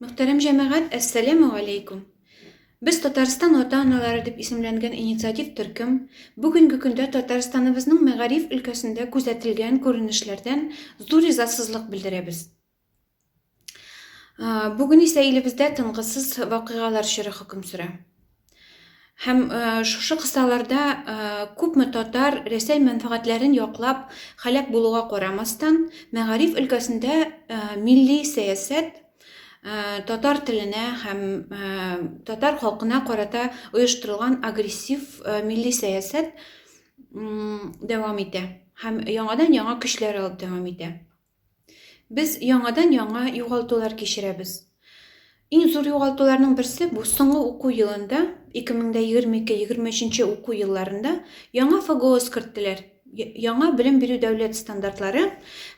Мөхтәрәм җәмәгать, әссәләмү галәйкүм! Без Татарстан ата-аналары дип исемләнгән инициатив төркем бүгенге көндә Татарстаныбызның мәгариф өлкәсендә күзәтелгән күренешләрдән зур ризасызлык белдерәбез. Бүген исә илебездә тынгысыз вакыйгалар чоры хөкем сөрә. Һәм э, шушы кысаларда э, күпме татар Рәсәй мәнфәгатьләрен яклап халәк булуга карамастан, мәгариф өлкәсендә э, милли сәясәт татар теленә һәм татар халкына карата оештырылган агрессив милли сәясәт дәвам итә һәм яңадан яңа көчләр алып дәвам итә. Без яңадан-яңа югалтулар кичерәбез. Иң зур югалтуларның берсе бу соңгы уку елында, 2022-23 уку елларында яңа ФГОС керттеләр. Яңа белем бирү дәүләт стандартлары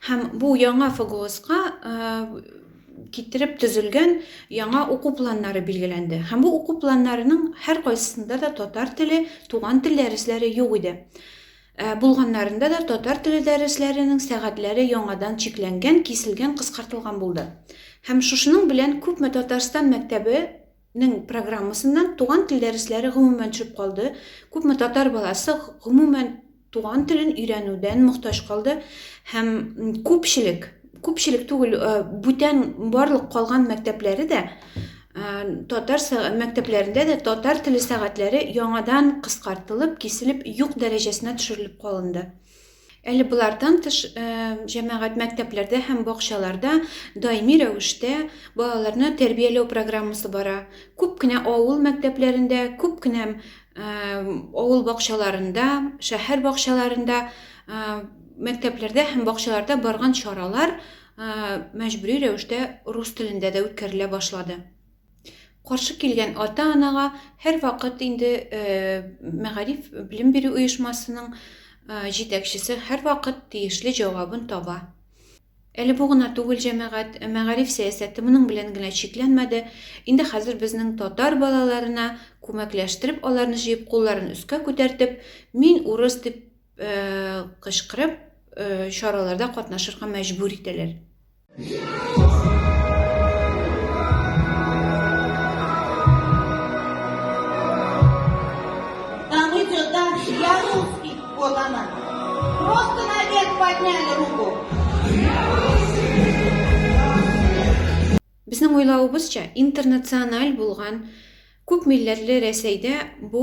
һәм бу яңа ФГОСка китереп төзелгән яңа уку планнары билгеләнде. Һәм бу уку планнарының һәркайсында да татар теле, туган тел дәресләре юк иде. Ә булганнарында да татар теле дәресләренең сәгатьләре яңадан чикләнгән, киселгән, кыскартылган булды. Һәм шушының белән күпме Татарстан мәктәбе нең программасыннан туган тел дәресләре гомумән төшеп калды, күпме татар баласы гомумән туган телен өйрәнүдән мохтаҗ калды һәм күпчелек, күпчелек түгел, бүтән барлык калган мәктәпләре дә Ә, татар са- мәктәпләрендә дә татар теле сәгатьләре яңадан кыскартылып, киселеп, юк дәрәҗәсенә төшерелеп калынды. Әле болардан тыш, э, җәмәгать мәктәпләрдә һәм бакчаларда даими рәвештә балаларны тәрбияләү программасы бара. Күп кенә авыл мәктәпләрендә, күп кенә э, авыл бакчаларында, шәһәр бакчаларында, э, мәктәпләрдә һәм бакчаларда барган чаралар мәҗбүри рәвештә рус телендә дә үткәрелә башлады. Каршы килгән ата-анага һәрвакыт инде мәгариф белем бирү оешмасының җитәкчесе һәрвакыт тиешле җавабын таба. Әле бу гына түгел җәмәгать, мәгариф сәясәте моның белән генә чикләнмәде. Инде хәзер безнең татар балаларына күмәкләштереп, аларны җыеп, кулларын өскә күтәртеп, мин урыс дип кычкырып чараларда катнашырга мәҗбүр итәләр Безнең уйлавыбызча, интернациональ булган күп милләтле Рәсәйдә бу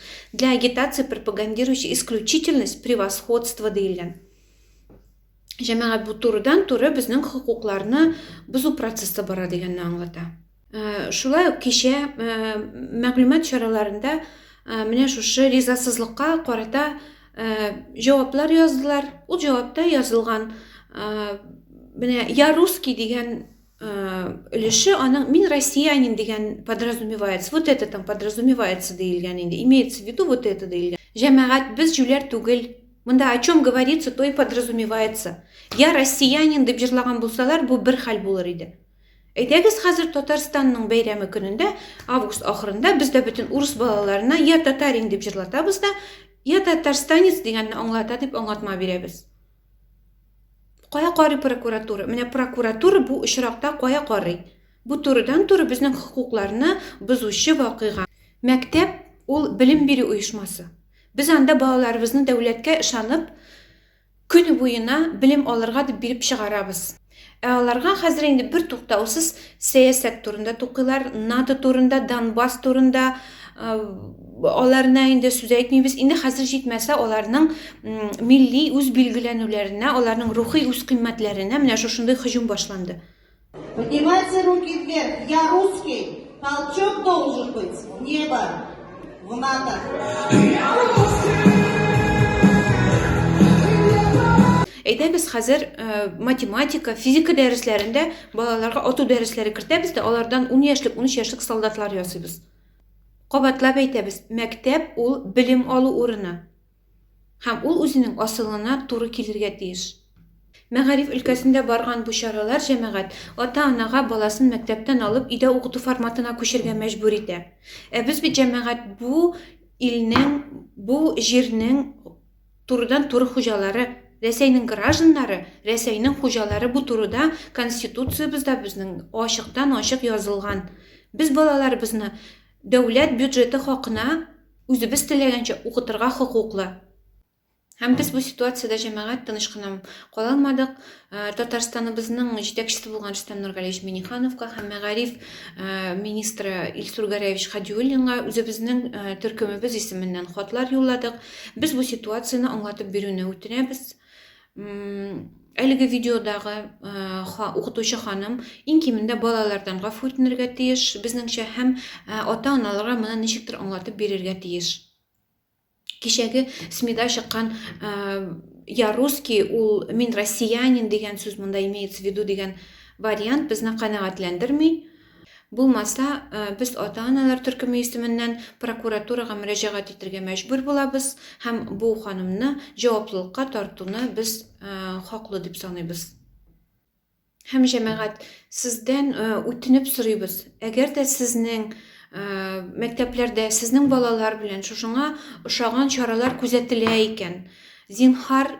Для агитации пропагандирующий исключительность превосходство диелгән. Җәмәгать бу турыдан туры безнең хокукларны бозу процессы бара дигәнне аңлата. Э, шулай ук кичә э, мәгълүмат чараларында э, менә шушы ризасызлыкка карата җаваплар яздылар. Ул җавапта язылган менә я русский дигән өлеше аның мин россиянин дигән подразумевается вот это там подразумевается диелгән инде имеется в виду вот это диелгән җәмәгать без җүләр түгел монда о чем говорится то и подразумевается я россиянин дип җырлаган булсалар бу бер хәл булыр иде әйдәгез хәзер татарстанның бәйрәме көнендә август ахырында без дә бөтен урыс балаларына я татарин дип җырлатабыз да я татарстанец дигәнне аңлата дип аңлатма бирәбез Кая карый прокуратура? Менә прокуратура бу очракта кая карый? Бу турыдан-туры безнең хокукларны бозучы вакыйга. Мәктәп ул белем бирү оешмасы. Без анда балаларыбызны дәүләткә ышанып, көне буена белем алырга дип биреп чыгарабыз. Ә аларга хәзер инде бер туктаусыз сәясәт турында тукыйлар, НАТО турында, Донбасс турында аларына инде сүз әйтмибез. Инде хәзер җитмәсә аларның милли үз билгеләнүләренә, аларның рухи үз кыйммәтләренә менә шушындый һөҗүм башланды. Поднимайте руки вверх. Я русский. Толчок должен быть в небо, в НАТО. Әйдәбез хәзер э, математика, физика дәресләрендә балаларга ату дәресләре кертәбез дә, алардан 10 яшьлек, 13 яшьлек солдатлар ясыйбыз. Кабатлап әйтәбез, мәктәп ул белем алу урыны. һәм ул үзенең асылына туры килергә тиеш. Мәгариф өлкәсендә барган бу чаралар җәмәгать, ата-анага баласын мәктәптән алып, өйдә укыту форматына күчергә мәҗбүр итә. Ә без бит җәмәгать бу илнең, бу җирнең турыдан-туры хуҗалары, Рәсәйнең гражданнары, Рәсәйнең хуҗалары бу турыда Конституциябездә безнең ачыктан-ачык язылган. Без балаларыбызны Дәүләт бюджеты хакына үзебез теләгәнчә укытырга хокуклы. Һәм без бу ситуациядә җәмәгать тыныч кына кала алмадык. Э, Татарстаныбызның җитәкчесе булган Рөстәм Нургалиевич Минихановка һәм мәгариф э, министры Илсур Гәрәевич Хадиуллинга үзебезнең э, төркемебез исеменнән хатлар юлладык. Без бу ситуацияне аңлатып бирүне үтенәбез. Әлеге видеодагы укытучы ханым иң кимендә балалардан гафу үтенергә тиеш, безнеңчә һәм ата-аналарга моны ничектер аңлатып бирергә тиеш. Кичәге СМИда чыккан я русский, ул мин россиянин дигән сүз монда имеется в виду дигән вариант безне канәгатьләндерми. Булмаса, без ата-аналар төркеме исеменнән прокуратурага мөрәҗәгать итергә мәҗбүр булабыз һәм бу ханымны җаваплылыкка тартуны без хаклы дип саныйбыз. Һәм җәмәгать, сездән үтенеп сорыйбыз, әгәр дә сезнең мәктәпләрдә сезнең балалар белән шушыңа ошаган чаралар күзәтелә икән, зинһар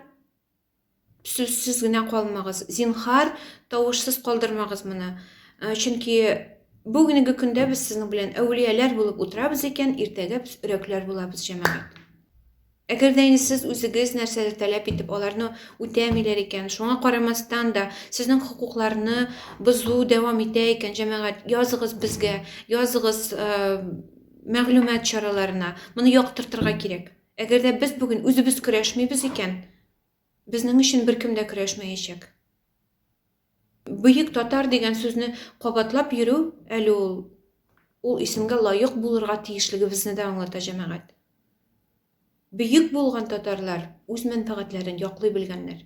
Сүзсез генә калмагыз. Зинхар, тавышсыз калдырмагыз моны. Э, чөнки бүгенге көндә без сезнең белән әүлияләр булып утырабыз икән, иртәгә без өрәкләр булабыз, җәмәгать. Әгәр дә инде сез үзегез нәрсәдер таләп итеп, аларны үтәмиләр икән, шуңа карамастан да сезнең хокукларны бозу дәвам итә икән, җәмәгать, языгыз безгә, языгыз э, мәгълүмат чараларына. Моны яктыртырга кирәк. Әгәр дә без бүген үзебез көрәшмибез икән, безнең өчен беркем дә көрәшмәячәк. Бөек татар дигән сүзне кабатлап йөрү әле ул, ул исемгә лаек булырга тиешлегебезне дә аңлата, җәмәгать. Бөек булган татарлар үз мәнфәгатьләрен яклый белгәннәр.